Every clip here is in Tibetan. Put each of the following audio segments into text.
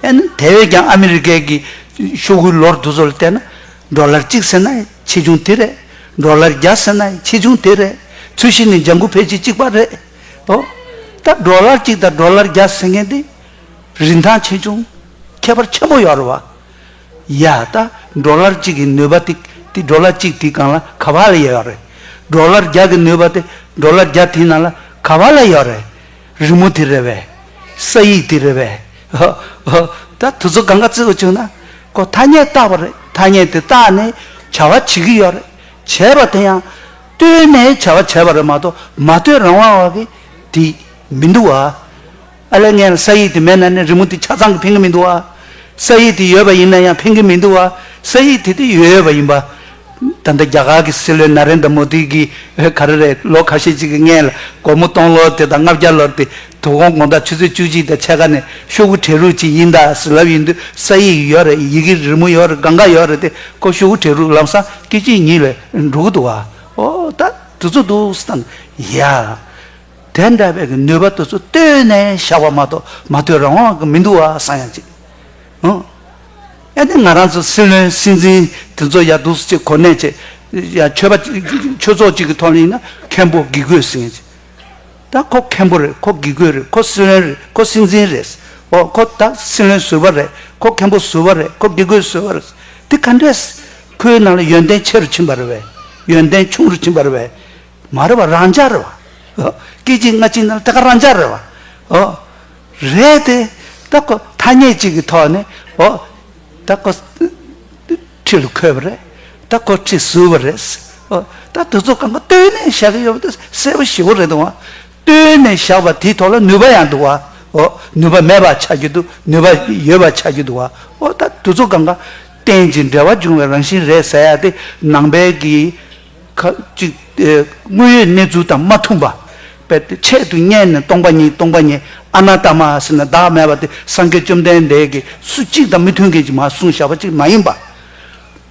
ཨེ་ན། དེ་བས་ཀྱང་ཨ་མི་རི་ཀའི་གི་ཤོག་བུའི་ལོར་འདུ་ཚོ་ལ་བལྟས་ན། འབྲོག་ལར་གཅིག་ཟེར་ན་ཆེ་ཆུང་དེ་རེད། འབྲོག་ལར་བརྒྱ་ཟེར་ན་ཆེ་ཆུང་དེ་རེད། ཚུལ་བཞིན་ནི་ལྗང་ཁུ་ཕལ་ཆེར་གཅིག་པ་རེད་དོ། ད་འབྲོག་ལར་གཅིག་དང་འབྲོག་ལར་བརྒྱ་ཟེར་མཁན་དེ། རིན་ཐང་ཆེ་ཆུང་ཁྱད་པར་ཆེན་པོ་ཡོད་རེད་བ། ཡ། ད་འབྲོག་ལར་གཅིག་གི་ནུས་པ་དེ་དེ་འབྲོག་ལར་གཅིག་དེའི་སྒང་ལ་ག་བ་ལ་ཡོད་རེད། འབྲོག་ལར་བརྒྱ་གི་ནུས་པ་དེ་འབྲོག་ལར་བརྒྱ་དེའི་ནང་ལ་ག་བ་ལ་ཡོད་རེད། རི་མོ་དེ་རེད་བས། ས་ཡིག་དེ་རེད་བས། ཧོ། ཧོ། ད་དུ་ཚོད་གང་ག་བརྩི་དགོས་བྱུང་ན། ཁོ་ཐ་སྙད་བཏགས་པ་རེད་ཐ་སྙད་དེ་བཏགས་ནས་བྱ་བ་བྱེད་ཀྱི་ཡོད་རེད། བྱས་པ་དེ་ཡང། བལྟོས་ནས་བྱ་བ་བྱས་པ་རེད་མ་གཏོགས་མ་བལྟོས་རང་དབང་བ་གི་དེ་མི་འདུག་བ། ཨ་ལས་ངན་ལ་ས་ཡིག་དེ་མེད་ན་ནི་རི་མོ་དེ་ཆ་ཚང་གི་ཕན་གི་མི་འདུག་བ། ས་ཡིག་དེ་ཡོད་པ་ཡིན་ན་ཡང་ཕན་གི་མི་འདུག་བ། ས་ཡིག་དེ་དེ་ཡོད་ཡོད་པ་ཡིན་པ། ད་ལྟ་རྒྱ་གར་གྱི་སྲིད་བློན་ན་རེན་དཱ་མོ་དཱི་གིས་ག་རེ་རེད་ལོ་ཁ་ཤས་ཅིག་གི་སྔས་ལ་སྒོར་མོ་སྟོང་ལོར་དེ་དང་ལྔ་བརྒྱ་ལོར་དེ་དུ་ཧོང་ཀོང་དང་ཆུ་ཚོད་བཅུ་གཅིག་དང་ཕྱེད་ཀ་ནས་ཤོག་བུ་བྲེ་རུག་ཅིག་དབྱིན་དང་སྲིད་ལབ་ཡིན་དུས་ས་ཡིག་ཡིག་ཡོག་རེད་ཡི་གེ་རི་མོ་ཡོག་རེད་གང་ག་ཡོག་རེད་དེ་ཀོ་ཤོག་བུ་བྲེ་རུག་ལམ་སང་སྐད་གཅིག་ཉིད་ལས་འགྲོ་གི་འདུག་ཨ་ཨོ་ད་དུ་ཚོ་འདུག་ས་དང་ཡ། དེ་འདྲ་བའི་གི་ནུས་པ་དུ་ཚོ་བཏོད་ནས་བཞག་པ་མ་གཏོགས་མ་བཏོད་རང་དབང་གི་མི་འདུག་ཨ་སང་ཡང་ཅིག། ཨོ། ཨེ་དེ་ང་རང་ཚོ་སྲིད་བློན་སྲིད་འཛིན་དེ་ཚོ་ཡ་འདུག་ཅེས་གོ་གནས་ཆེ། ཡ་ཆོས་པ་ཆོས་ཚོགས་གཅིག་གི་ཐོག་ནས་ཡིན་ན་མཁན་པོ་དགེ་བསྐོས་ཟེར་ངེས། ད་ཁོ་མཁན་པོ་རེད་ཁོ་དགེ་བསྐོས་རེད་ཁོ་སྲིད་བློན་རེད་ཁོ་སྲིད་འཛིན་རེད། ཨོ་ཁོ་ད་སྲིད་བློན་ཟུར་བ་རེད་ཁོ་མཁན་པོ་ཟུར་བ་རེད་ཁོ་དགེ་བསྐོས་ཟུར་བ་རེད། དེ་ག་འདྲ། ཁོའི་ནང་ལ་ཡོན་ཏན་ཆེ་རུ་ཕྱིན་པ་རེད་བས། ཡོན་ཏན་ཆུང་རུ་ཕྱིན་པ་རེད་བས། མ་རེད་བ་རང་འཇགས་རེད་བ། ཨོ། སྐད་ཅིག་སྔ་ཕྱིའི་ནང་ལ་ད་ག་རང་འཇགས་རེད་བ། ཨོ། རེད་དེ། ད་ཁོ་ཐ་སྙད་ཅིག་གི་ཐོག་ནས་འོ། ད་ཁོ། ཁྲི་ལ་འཁོད་པ་རེད། ད་ཁོ་ཁྲི་ཟུར་བ་རེད། འོ། ད་དེ་ཚོ་གང་གི་བསྟོད་ནས་བཞག་གི་ཡོད་པ་དེ་གསལ་པོ་ཞིའོ་རེད་འདུག། བསྟོད་ནས་བཞག་པ་དེའི་ཐོག་ལ་ནུས་པ་ཡང་འདུག་བ། འོ། ནུས་པ་མེད་པ་ཆགས་ཀྱི་འདུག་ནུས་པ་ཡོད་པ་ཆགས་ཀྱི་འདུག་བ། འོ། ད་དེ་ཚོ་གང་ག། གཏན་གྱི་འབྲེལ་བ་འབྱུང་བའི་རང་བཞིན་རེད་ཟེར་ཡག་དེ། ནང་པའི་གི། ཁ་ཅིག་དངོས་ཡོད་གནས་ཚུལ་དང་མ་མཐུན་པ། དཔེར་ཏེ་ཆེད་དུ་བསྙད་ནས་སྟོང་པ་ཉིད་སྟོང་པ་ཉིད་ཨ་ན་ད་མ་ཟེར་ན་བདག་མེད་པ་དེ་སངས་རྒྱས་བཅོམ་ལྡན་འདས་ཀྱིས་སུ་གཅིག་དང་མི་མཐུན་གྱིས་མ་གསུངས་བྱ་བ་གཅིག་མ་ཡིན་པ།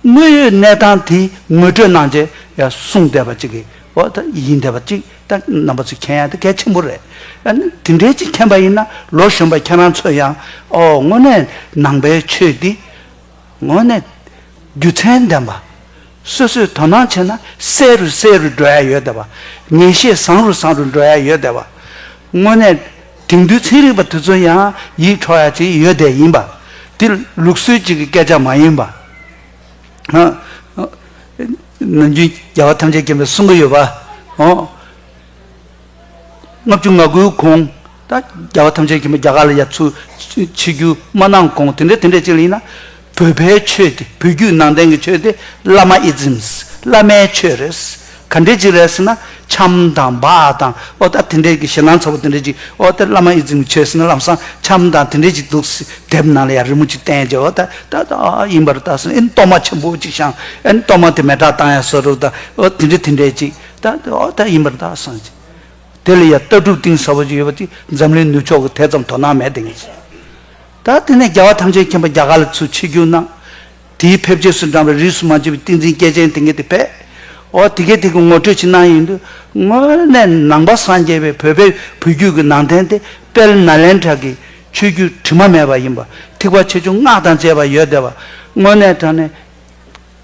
དངོས་ཡོད་གནས་སྟངས་དེ་ངོས་སྤྲོད་གནང་རྗེས་ཡང་གསུངས་བསྡད་པ་གཅིག་གིས་འོ་ད་ཡིན་བསྡད་པ་གཅིག་ད་རྣམ་པ་ཚོས་མཁྱེན་ཡ་དེ་གལ་ཆེན་པོ་རེད། ཡང་ན་དེ་འདྲའི་གཅིག་མཁྱེན་པ་ཡིན་ན་ལོ་གཞོན་པ་ཁྱེད་རང་ཚོས་ཡང་ཨོ་དངོས་གནས་ནང་པའི་ཆོས་འདི། ངོས་ནས། རྒྱུ་མཚན་ལྡན་པ། སོ་སོས་དོ་སྣང་བྱས་ན་གསལ་རུ་གསལ་རུ་འགྲོ་ཡ་ཡོད་བསྡད་པ། ངེས་ཤེས་བཟང་རུ་བཟང་རུ་འགྲོ་ཡ་ཡོད་བསྡད་པ། དངོས་གནས། དེང་དུས་ཚན་རིག་པ་དེ་ཚོ་ཡང་ཡིད་འཕྲོག་ཡ་ཅིག་ཡོད་བསྡད་ཡིན་པ། དེ་ལུགས་སྲོལ་གཅིག་གི་སྐད་ཆ་མ་ཡིན་པ། ནམ་རྒྱུན་རྒྱལ་བ་ཐམས་ཅད་མཁྱེན་པའི་གསུང་གི་ཡོད་པ། ལྔ་བཅུ་ང་དགུའི་གོང་དང། རྒྱལ་བ་ཐམས་ཅད་མཁྱེན་པ་རྒྱ་གར་ལ་ཡབ་ཚུལ་ཕྱི་རྒྱུད་མ་གནང་གོང་དེ་འདྲའི་དེ་འདྲའི་ཅིག་ལ་ཡིན་ན། བོད་པའི་ཆོས་དེ་བོད་བརྒྱུད་ནང་བསྟན་གྱི་ཆོས་དེ་བླ་མ་ཨི་ཛིམ། བླ་མའི་ཆོས་རེད། ག་འདྲའི་ཅིག་རེད་ཟེར་ན། ཆམ་དང་བ་དང་ཨོ་ད་དེ་འདྲའི་གི་ཞེ་སྣང་ཚ་བོ་དེ་འདྲའི་ཅིག་ཨོ་ད་བླ་མ་ཨི་ཛིམ་གྱི་ཆོས་ཟེར་ན་ལམ་སང་ཆམ་དང་དེ་འདྲའི་ཅིག་འདུག་ཟེར་དེབ་ནང་ལ་ཡང་རི་མོ་ཅིག་བསྟན་རྗེས་ཨོ་ད་ད་ད་ཨ་ཨ་ཡིན་པ་རུ་བལྟ་ཟེར་ཨེ་གཏོར་མ་ཆེན་པོ་ཅིག་བཤངས་ཨེ་གཏོར་མ་དེ་མེ་བྲག་བཏང་ཡ་ཟེར་རུ་བལྟ་ཨོ་དེ་འདྲའི་དེ་འདྲའི་ཅིག། བདག་གི་ཨོ་ཐ་ཡིན་པར་གདའ་སངས་རྒྱས། དེ་ལ་ཡང་ལྟ་གྲུབ་གཏིང་ཟབ་པོ་ཅིག་ཡོད་པ་དེ་འཛམ་གླིང་ནུབ་ཕྱོགས་ཀྱི་དེ་ཙམ་དོ་སྣང་མེད་བསྡད་ངེས་ཅན། ད་དེ་ནས་རྒྱལ་བ་ཐམས་ཅད་མཁྱེན་པ་རྒྱ་གར་ལ་ཚུར་ཆིལ་རྒྱུགས་གནང། དེའི་ཕེབས་རྗེས་སུ་འབྲངས་པའི་རིས་སུ་མ་འབྱེད་པའི་ཏིང་འཛིན་སྐྱེས་ཆེན་དེ་སྐད་དེ་བས། ཨོ་དེ་སྐད་དེ་གི་ངོ་སྤྲོད་ཅིག་གནང་ཡོད་འདུག་དངོས་གནས་ནང་པ་སངས་རྒྱས་པའི་བོད་པའི་བུ་རྒྱུད་ཀྱི་ནང་བསྟན་དེ་དཔལ་ནཱ་ལེནྡྲ་གི་ཆོས་བརྒྱུད་དྲི་མ་མེད་པ་ཡིན་པ་ཐིག་པ་ཆེ་ཆུང་སྔགས་དང་བཅས་པ་ཡོད་བསྡད་པ་དངོས་གནས་དྲན་ནས།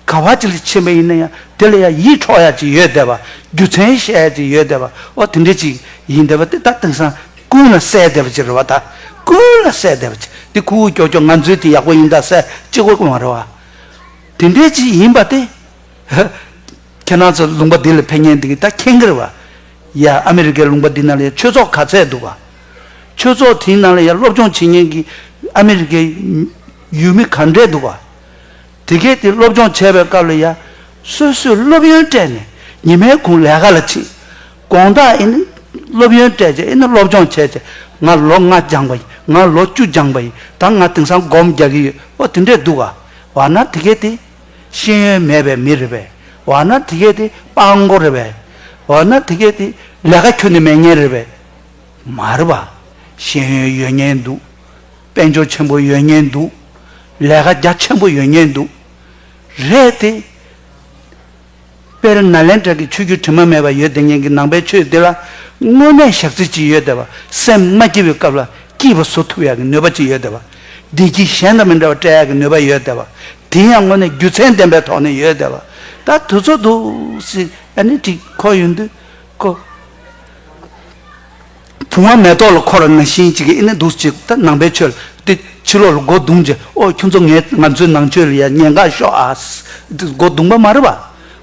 ག་བ་ཅི་ལ་ཕྱིན་པ་ཡིན་ན་ཡང་དེ་ལ་ཡང་ཡིད་འཕྲོག་ཡ་ཅིག་ཡོད་བསྡད་པ་རྒྱུ་མཚན་བཤད་ཡ་ཅིག་ཡོད་བསྡད་པ་ཨོ་དེ་འདྲ་ཅིག་ཡིན་བསྡད་པ་དེ་ད་དེང་སང་ཀུན་ལ་གསལ་བསྡད་པ་ཅིག་རེད་བ་ད་ཀུན་ལ་གསལ་བསྡད་པ་ཅིག་དེ་ཁུ་བོ་ཀྱོག་ཀྱོག་ང་ཚོའི་དེ་ཡག་པོ་ཡིན་ད་གསལ་གཅིག་བོ་ཀུན་བ་རེད་བ། དེ་འདྲ་ཅིག་ཡིན་པ་དེ། ཁྱེད་རང་ཚོ་ལུང་པ་འདི་ལ་ཕན་ཉན་འདི་གི་ད་ཁྱེད་གི་རེད་བ། ཡ་ཨ་མི་རི་ཀའི་ལུང་པ་འདི་ན་ལ་ཡ་ཆོས་ཚོགས་ག་ཚད་འདུག་བ། ཆོས་ཚོགས་དེའི་ནང་ལ་ཡ་སློབ་སྦྱོང་བྱེད་ཉན་གི་ཨ་མི་རི་ཀའི་ཡུལ་མི་ག་འདྲས་འདུག་བ། དེ་སྐད་དེ་སློབ་སྦྱོང་བྱས་པའི་སྐབས་ལ་ཡང། སོ་སོས་སློབ་ཡོན་སྤྲད་ནས་ཉི་མའི་གུང་ལས་ཀ་ལ་ཕྱིན། དགོངས་དག་ཨེ་ནི། སློབ་ཡོན་སྤྲད་རྗེས་ཨེ་ནི་སློབ་སྦྱོང་བྱས་རྗེས་ང་ལོ་ལྔ་སྦྱངས་པ་ཡིན་ང་ལོ་བཅུ་སྦྱངས་པ་ཡིན་ད་ང་དེང་སང་སྒོམ་རྒྱག་གི་ཡོད་ཨོ་དེ་འདྲས་འདུག་ག། འོ་ན་དེ་སྐད་དེ། ཤེས་ཡོན་མེད་པའི་མི་རེད་པས། འོ་ན་དེ་སྐད་དེ་སྤང་མགོ་རེད་པས། འོ་ན་དེ་སྐད་དེ་ལས་ཀ་ཁྱོན་ནས་མེད་ངེས་རེད་པས། མ་རེད་པ། ཤེས་ཡོན་ཡོད་ངེས་འདུག། དཔལ་འབྱོར་ཆེན་པོ་ཡོད་ཉེན་འདུག། ལས་ཀ་རྒྱ་ཆེན་པོ་ཡོད་ཉེན་འདུག། རེད་དེ། དཔེར་ན་ལན་གྲགས་ཀྱི་ཆོས་བརྒྱུད་དྲི་མ་མེད་པ་ཡོད་དེ་ཉེན་གྱི་ནང་པའི་ཆོས་འདི་ལ་དངོས་གནས་བཞག་རྩིས་ཅི་ཡོད་དེ་བ་སེམས་མ་སྐྱིད་པའི་སྐབས་ལ་སྐྱིད་པ་བཟོ་ཐུབ་ཡག་གི་ནུས་པ་ཅི་ཡོད་དེ་བ་བདེ་སྐྱིད་གཞན་དང་མི་འདྲ་བ་སྤྲད་ཡག་གི་ནུས་པ་ཡོད་དེ་བ་དེ་ཡང་དངོས་གནས་རྒྱུ་མཚན་ལྡན་པའི་ཐོག་ནས་ཡོད་དེ་བ་ད་དུས་ཚོད་འདུག་ཟེར་ཨ་ནི་འགྲིག་ཁོག་ཡོད་འདུག་ཁོ། བུང་བ་མེ་ཏོག་ལ་འཁོར་བ་ན་བཞིན་གྱི་ཨི་ནི་འདུག་ཅིག་ད་ནང་པའི་ཆོས་ལ་ལྟོས། ཕྱི་ལོགས་ལ་སྒོ་བརྡུངས་ཀྱི་ཨོ་ཁྱོད་ཚོ་ངས་ང་ཚོའི་ནང་ཆོས་ལ་ཡ་ཉེས་འགའ་ཤོག་ཨ། སྒོ་བརྡུངས་པ་མ་རེད་པ།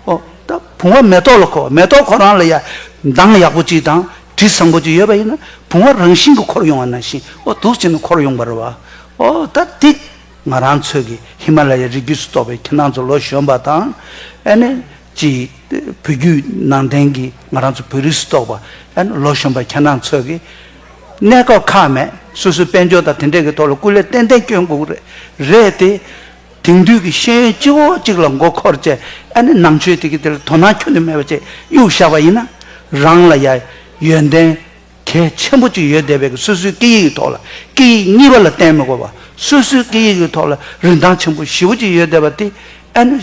ཨོ། ད་བུང་བ་མེ་ཏོག་ལ་འཁོར་བ་མེ་ཏོག་ཁོ་རང་ལ་ཡ། མདངས་ཡག་པོ་ཅིག་དང་དྲི་བཟང་པོ་ཅིག་ཡོད་པ་ཡིན་ན་བུང་བ་རང་བཞིན་གྱི་འཁོར་ཡོང་བ་ན་བཞིན་ཨོ་དུག་བྱས་ན་འཁོར་ཡོང་པ་རེད་བ། ཨོ་ད་འདི། ང་རང་ཚོས་ཀྱི་ཧི་མ་ལ་ཡའི་རི་རྒྱུད་སུ་གཏོགས་པའི་ཁྱེད་རང་ཚོ་ལོ་གཞོན་པ་དང། ཨེ་ནི། ཅེས་བོད་བརྒྱུད་ནང་བསྟན་གྱི་ང་རང་ཚོ་བོད་རིགས་སུ་གཏོགས་པ་ཡང་ལོ་གཞོན་པ་ཁྱེད་རང་ཚོས་ཀྱིས་གནས་སྐབས་ཁག་མེད་སོ་སོའི་དཔལ་འབྱོར་དང་དེ་འདྲས་ཀྱི་ཐོག་ལ་སྐུ་ལས་ཏན་ཏན་བསྐྱོན་དགོས་ཀྱི་རེད་དེ། དེང་དུས་ཀྱི་ཤེས་ཡོན་སྤྱི་བོ་གཅིག་ལ་མགོ་འཁོར་བཅས་ཨ་ནི་ནང་ཆོས་དེ་གི་དེ་ལ་དོ་སྣང་ཁྱོན་དུ་མེད་པ་བཅས་གཡུག་བཞག་པ་ཡིན་ན། རང་ལ་ཡང་ཡོན་ཏན་གལ་ཆེན་པོ་གཅིག་ཡོད་བསྡད་པས་ཀྱི་སོ་སོའི་སྐད་ཡིག་གི་ཐོག་ལ་སྐད་ཡིག་གཉིས་པ་ལ་བརྟེན་མི་དགོས་པ་སོ་སོའི་སྐད་ཡིག་གི་ཐོག་ལ་རིན་ཐང་ཆེན་པོ་བཞི་བོ་གཅིག་ཡོད་བསྡད་པ་དེ་ཨ་ནི།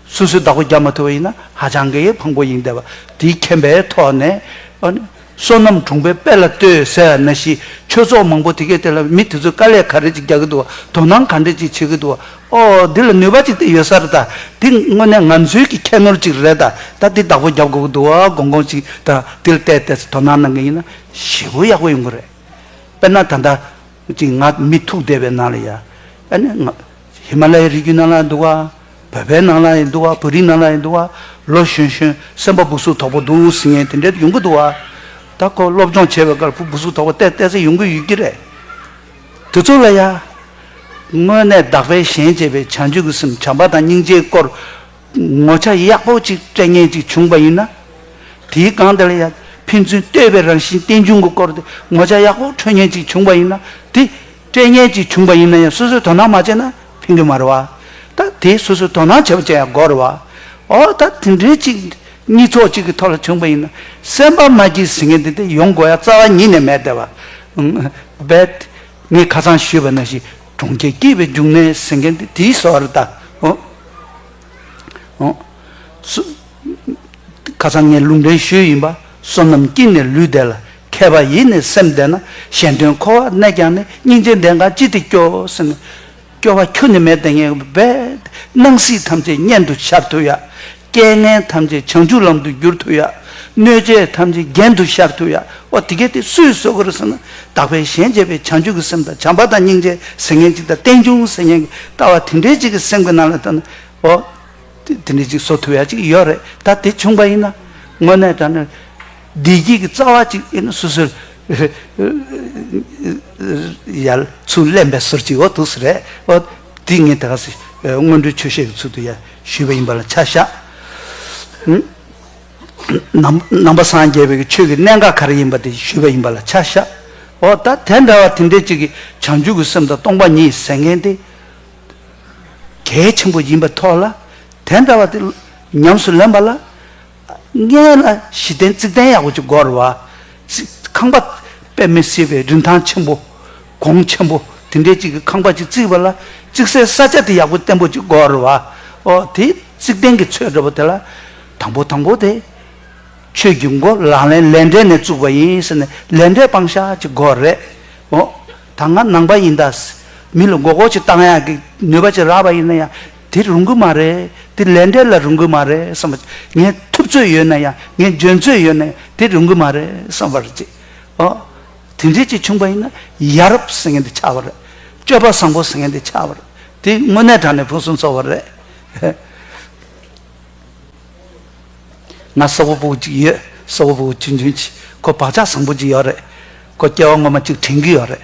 སོ་སོའི་བདག་པོ་རྒྱག་མ་ཐུབ་པ་ཡིན་ན་ཧ་ཅང་གི་ཕངས་པོ་ཡིན་བསྡད་པ་དེའི་མཁྱེན་པའི་ཐོག་ནས། བསོད་ནམས་གྲོང་པའི་དཔལ་ལ་ལྟོས་ཟེར་བ་ན་གཞིས་ཆོས་ཚོགས་མང་པོ་དེ་གས་དེ་ལ་མི་དེ་ཚོས་དཀའ་ལས་ག་རེ་ཅིག་རྒྱག་གི་འདུག་བ་དོ་སྣང་ག་འདྲེ་ཅིག་བྱེད་ཀྱི་འདུག་བ་ཨོ་འདི་ལ་ནུས་པ་ཅིག་དེ་ཡོད་ས་རེད་ད་འདི་དངོས་གནས་ང་ཚོའི་གི་ཁྱད་ནོར་ཅིག་རེད་ད་ད་འདི་བདག་པོ་རྒྱབ་དགོས་ཀྱི་འདུག་བ་དགོངས་དགོངས་ཅིག་ད་འདི་ལ་བལྟས་བལྟས་ཚེ་དོ་སྣང་གནང་གི་ཡིན་ན་ཞེ་བོ་ཡག་པོ་ཡོང་གི་རེད་དཔེར་ན་ད་ལྟ། ཅིག་ང་མི་ཐུག་བསྡད་པའི་ནང་ལ་ཡ། ཨ་ནི་ང། ཧི་མ་ལ་ཡའི་རི་རྒྱུད་ནང་ལ་འདུག་བ། བོད་པའི་ནང་ལ་ཡི་འདུག་བ་བོད་རིགས་ནང་ལ་ཡི་འདུག་བ། ལོ་གཞོན་གཞོན་སེམས་པ་སྦུག་སུག་དོག་པོ་འདུག་ཟིང་ངེ་དེ་འདྲའི་དུ་ཡོང་གི་འདུག་བ། ད་ཁོ་སློབ་སྦྱོང་བྱེད་པའི་སྐར་བུ་སྦུག་སུག་དོག་པོ་བལྟས་བལྟས་ཚེ་ཡོང་གི་ཡོད་ཀྱི་རེད། དེ་ཚོ་ལ་ཡ། དངོས་གནས་བདག་པས་གཞན་གཅེས་པའི་བྱང་ཆུབ་ཀྱི་སེམས་བྱམས་པ་དང་སྙིང་རྗེའི་སྐོར། ངོ་ཆ་ཡག་པོ་ཅིག་སྤྲད་ངེས་ཅིག་བྱུང་པ་ཡིན་ན། དེའི་སྒང་དེ་ལ་ཡང་ཕན་ཚུན་ལྟོས་པའི་རང་བཞིན་རྟེན་འབྱུང་གི་སྐོར་དེ་ངོ་ཆ་ཡག་པོ་འཕྲོད་ངེས་ཅིག་བྱུང་པ་ཡིན་ན། དེ་སྤྲད་ངེས་ཅིག་བྱུང་པ་ཡིན་ན་ཡང་སོ་སོས་དོ་སྣང་མ་བྱས་ན་ཕན་གི་མ་རེད་བ། ད་དེ་སོ་སོས་དོ་སྣང་བྱས་པ་ཅན་ཡང་འགོག་རེད་བ། འོ་ད་དེ་འདྲའི་གཅིག་གཉིས་ཚོགས་གཅིག་གི་ཐོག་ལ་བྱུང་པ་ཡིན་ན། སེམས་པ་མ་སྐྱིད་ཟེར་མཁན་དེ་དེ་ཡོང་དགོས་ཡ་རྩ་བ་ཉིད་ནས་མེད་བསྡད་བ། རྦད་དེ་ངས་ཁ་ཚང་ཞུས་པ་ན་ཞིག། གྲོང་ཁྱེར་སྐྱེས་པའི་འབྱུང་གནས་སེང་གེ་འདི་དེའི་སོ་ར་དང། ཁ་ཚང་ངས་ལུང་འདྲེན་ཞུས་ཡིན་པ་བསོད་ནམས་སྐྱིད་ནས་ལུས་བདེ་ལ་མཁས་པ་ཡིད་ནས་སེམས་བདེ་ན་གཞན་དོན་འཁོར་བར་གནས་ཀྱང་ནི་སྙིང་རྗེ་འདས་འགའ་ཅི་སྟེ་སྐྱོ་སེམས་ནི། སྐྱོ་བ་ཁྱོད་ནི་མེད་དེ་ངས་བས། སྣང་སྲིད་ཐམས་ཅད་གཉེན་དུ་འཆར་ཐུབ་ཡ། རྐྱེན་ངན་ཐམས་ཅད་བྱང་ཆུབ་ལམ་དུ་བསྒྱུར་ཐུབ་ཡ། གནོད་བྱེད་ཐམས་ཅད་རྒྱན་དུ་ཤར་ཐུབ་ཡ། ཨོ་དེ་གལ་ཏེ་སུས་གསོལ་གོ་རུ་ཟེར་ན། དག་པའི་ཞལ་མཇལ་བའི་བྱང་ཆུབ་ཀྱི་སེམས་དང་བྱམས་པ་དང་སྙིང་རྗེ་ཟེར་མཁན་གཅིག་དང་རྟེན་འབྱུང་ཟེར་མཁན་གྱི་ལྟ་བ་དེ་འདྲའི་གཅིག་གི་སེམས་ཀྱི་ནང་ལ་བཏོན་ན། ཨོ། དེ་འདྲའི་གཅིག་བཟོ་ཐུབ་ཡ་གཅིག་ཡོད་རེད་ད་དེ་བྱུང་པ་ཡིན་ན། དངོས་གནས་དྲན་ན། བདེ་སྐྱིད་ཀྱི་རྩ་བ་གཅིག་ཨེ་ནི་སུ་ཟེར། ཡ། ཚུར་གླན་པའི་ཟུར་གཅིག་ཨོ་ཐུགས་སུ་རེད། ཨོ། དེ་ངས་དེ་ག་ཟེར། སྔོན་འགྲོའི་ཆོས་བཤད་ཀྱི་ཚུལ་དུ་ཡ། ཞུས་པ་ཡིན་པ་ལ་ཆ་བཞག། ནང་པ་སངས་རྒྱས་པའི་ཆོས་ཀྱི་གནས་འགའ་ག་རེ་ཡིན་པ་དེ་ཞུས་པ་ཡིན་པ་ལ་ཆ་བཞག། འོ་ད་དེ་འདྲ་བ་དེ་འདྲའི་ཅིག་གི་བྱང་ཆུབ་ཀྱི་སེམས་དང་སྟོང་པ་ཉིད་ཟེར་མཁན་དེ་གལ་ཆེན་པོ་ཡིན་པའི་ཐོག་ལ། དེ་འདྲ་བ་དེ་ཉམས་སུ་ལེན་པ་ལ། མངལ་ལ་བཞི་ལྡན་རྩིག་ལྡན་ཡག་པོ་ཅིག་བསྒོར་བ། ཁང་པ། པདྨའི་བསིལ་བའི་རིན་ཐང་ཆེན་པོ། གོང་ཆེན་པོ། དེ་འདྲའི་ཅིག་གི་ཁང་པ་ཅིག་བརྩིགས་པ་ལ། བརྩིགས་སའི་ས་ཆ་དེ་ཡག་པོ་བརྟན་པོ་ཅིག་བསྒོར་བ། ཨོ། དེ་རྩིག་ལྡན་གྱི་ཚོས་འདྲ་པོ་དེ་ལ། དང་པོ་དང་པོ་དེ། ཆོས་ཀྱི་མགོ་ལག་ལེན་ལས་འབྲས་ནས་བཙུགས་པ་ཡིན་ཟེར་ནས་ལས་འབྲས་སྤང་བྱ་ཅིག་བསྒོར་རེ། ཨོ། ད་ང་ནང་པ་ཡིན་ད། མི་ལ་མགོ་སྐོར་ཅིག་བཏང་ཡག་གི་ནུས་པ་ཅིག་རག་པ་ཡིན་ན་ཡང། དེ་རུང་གི་མ་རེད། དེ་ལས་འབྲས་ལ་རུང་གི་མ་རེད་བསམ་པར་བྱེད། ངས་ཐུབ་ཚོད་ཡོད་ན་ཡང་ངས་འཇོན་ཚོད་ཡོད་ན་ཡང་དེ་རུང་གི་མ་རེད་བསམ་པར་བྱེད། ཨོ། དེ་འདྲས་ཀྱིས་ཕྱུང་པ་ཡིན་ན་ཡ་རབས་ཟེར་མཁན་དེ་ཆགས་པ་རེད། སྤྱོད་པ་བཟང་པོ་ཟེར་མཁན་དེ་ཆགས་པ་རེད། དེ་དངོས་གནས་དྲང་ནས་ཕུན་སུམ་ཚོགས་པ་རེད། ང་སོག་པོ་བུ་གཅིག་ཡོད། སོག་པོ་བུ་ཆུང་ཆུང་གཅིག་ཁོ་བག་ཆགས་བཟང་པོ་གཅིག་ཡོད་རེད། ཁོ་སྐྱེ་བ་སྔོན་མ་གཅིག་དྲན་གྱི་ཡོད་རེད།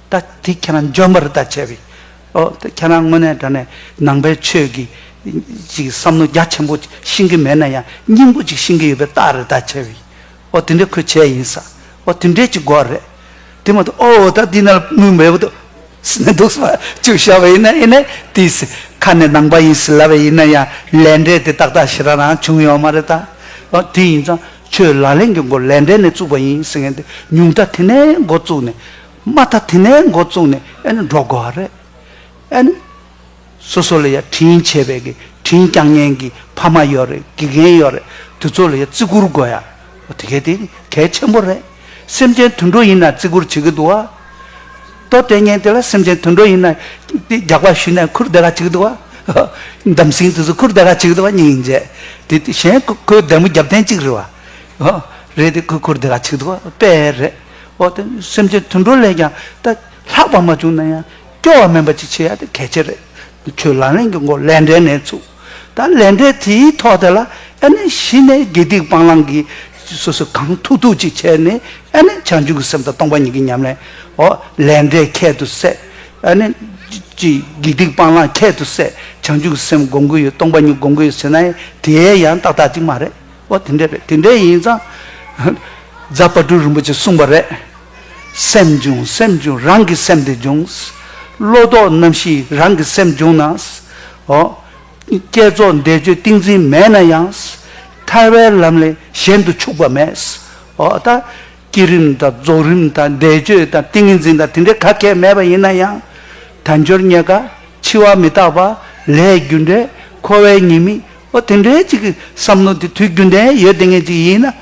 ད་དེ་ཁྱེད་རང་འཇོན་པར་ད་བྱས་པས། ཨོ་ད་ཁྱེད་རང་དངོས་གནས་དྲན་ནས་ནང་པའི་ཆོས་ཀྱི་ཅིག་བསམ་བློ་རྒྱ་ཆེན་པོ་ཤིང་གི་མེད་ན་ཡང་སྙིང་པོ་ཅིག་ཤིང་གི་ཡོད་པའི་རྟགས་རེད་ད་བྱས་པས། ཨོ་དེ་འདྲའི་ཁོས་བྱས་ཡིན་ས་ཨོ་དེ་འདྲའི་ཅིག་དགོས་རེད། དེ་མ་ཐུག་ཨོའོ་ད་འདི་ན་མི་འབེལ་པོ་འདུག་སེ་ན་འདུག་སེ་བཅུག་ཤ་བས་ཡིན་ན་ཡིན་ནས་དེའི་སེ་ཁ་ནས་ནང་པ་ཡིན་སེ་ལབ་པས་ཡིན་ན་ཡང་ལས་འབྲས་དེ་ཏག་ཏག་ཤི་ར་རང་བྱུང་ཡོད་མ་རེད་ད། ཨོ་དེ་ཡིན་ཙང་ཆོས་ལག་ལེན་གྱི་མགོ་ལས་འབྲས་ནས་བཙུགས་པ་ཡིན་སེ་ངས་འདི་ཉུང་མཐའ་དེ་ནས་མགོ་བཙུགས་ནས། མ་མཐའ་དེ་ནས་མགོ་བཙུགས་ནས་ཨེ་ནི་འགྲོ་དགོས་བ་རེད། ཨེ་ནི། སོ་སོ་ལ་ཡ་དྲིན་ཆེ་བའི་གི་དྲིན་བསྐྱང་མཉན་གི་ཕ་མ་ཡོད་རེད་དགེ་རྒན་ཡོད་རེད་དེ་ཚོ་ལ་ཡ་བརྩི་བཀུར་དགོས་ཡ། དེ་གལ་ཏེ་གལ་ཆེན་པོ་རེད། སེམས་ཅན་དུད་འགྲོ་ཡིན་ན་བརྩི་བཀུར་བྱེད་གི་འདུག་བ། ལྟོ་ལྟས་ངན་དེ་ལ་སེམས་ཅན་དུད་འགྲོ་ཡིན་ན་དེ་རྒྱག་པ་ཞུས་ནས་ཁུར་བསྡད་ག་བྱེད་གི་འདུག་བ། འདམ་སྲིང་དེ་ཚོ་ཁུར་བསྡད་ག་བྱེད་གི་འདུག་བ་སྙིང་ཡིན་རྗེས་དེ་གཞན་ཁོའི་བདེ་མོ་རྒྱབ་བརྟེན་གཅིག་རེད་བ། རེད་དེ་ཁོས་ཁུར་བསྡད་ག་བྱེད་གི་འདུག་བ་དཔེ་རེད། འོ་དེ་སེམས་ཅན་དུད་འགྲོ་ལས་ཀྱང་ད་ལྷག་པ་མ་བྱུང་ན་ཡང་སྐྱོ་བ་མིན་པ་ཅིག་བྱེད་ཡ་དེ་གལ་ཆེ་རེད། ཁྱོད་ལག་ལེན་གྱི་མགོ་ལས་འབྲས་ནས་ཚུགས། ད་ལས་འབྲས་དེའི་ཐོག་དེ་ལ་ཨེ་ནས་གཞི་ནས་དགེ་སྡིག་སྤང་བླང་གི་སོ་སོས་གང་ཐུག་ཐུག་ཅིག་བྱས་ནས་ཨེ་ནས་བྱང་ཆུབ་ཀྱི་སེམས་དང་སྟོང་པ་ཉིད་ཀྱི་ཉམས་ལེན་འོ་ལས་འབྲས་ཁྱད་དུ་བསད། ཨེ་ནས་ཀྱི་དགེ་སྡིག་སྤང་བླང་ཁྱད་དུ་བསད་བྱང་ཆུབ་ཀྱི་སེམས་སྒོམ་གྱི་ཡོད་སྟོང་པ་ཉིད་སྒོམ་གྱི་ཡོད་ཟེར་ན་ཡང་དེའི་ཡང་ཏག་ཏག་ཅིག་མ་རེད། ཨོ་དེ་འདྲས་པས་དེ་འདྲས་ཡིན་ཙང། རྫ་དཔའ་སྤྲུལ་རིན་པོ་ཆེས་གསུངས་པ་རེད། སེམས་འབྱུང་སེམས་འབྱུང་རང་གི་སེམས་དེ་འབྱུང། བློ་ལྡོག་རྣམ་ཤེས་རང་གི་སེམས་འབྱུང་ན། ཨོ། བསྐྱེད་རྫོགས་བཟླས་བརྗོད་ཏིང་འཛིན་མེད་ན་ཡང། ཐར་བའི་ལམ་ལས་གཞན་དུ་ཆུག་པ་མེད། ཨོ་ད། བསྐྱེད་རིམ་དང་རྫོགས་རིམ་དང་བཟླས་བརྗོད་དང་ཏིང་ངེ་འཛིན་དང་དེ་འདྲས་ག་གེ་མེད་པ་ཡིན་ན་ཡང། དལ་འབྱོར་རྙེད་དཀའ་འཆི་བ་མི་རྟག་པ། ལས་རྒྱུ་འབྲས་འཁོར་བའི་ཉེས་དམིགས་ཨོ་དེ་འདྲའི་ཅིག་གི་བསམ་བློ་དེ་དུས་རྒྱུན་ལྡན་ཡོད་བསྡད་ངེས་ཅིག་ཡིན་ན།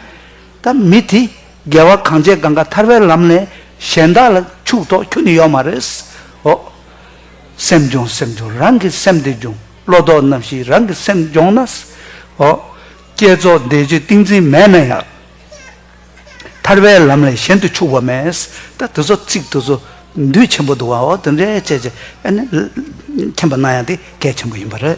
ད་མི་དེ་རྒྱལ་བ་གངས་ཅན་གངས་ཀ་ཐར་བའི་ལམ་ནས་གཞན་དག་ལ་ཕྱུག་ཐོག་ཁྱོད་ནི་ཡོད་མ་རེད། ཨོ། སེམས་སྦྱོང་སེམས་སྦྱོང་རང་གི་སེམས་དེ་སྦྱོང་བློ་དོགས་རྣམ་ཤེས་རང་གི་སེམས་སྦྱོང་ན། ཨོ། བསྐྱེད་རྫོགས་འདས་རྗེས་ཏིང་འཛིན་མེད་ན་ཡང། ཐར་བའི་ལམ་ལས་གཞན་དུ་ཕྱུག་པ་མེད། ད་དེ་ཚོ་ཚིག་དེ་ཚོ་འདུས་ཆེན་པོ་འདུག་ཨོ་དེ་འདྲའི་ཅེས་ཅེས་ཨ་ནི། མཁྱེན་པ་གནང་ཡང་དེ་གལ་ཆེན་པོ་ཡིན་པ་རེད།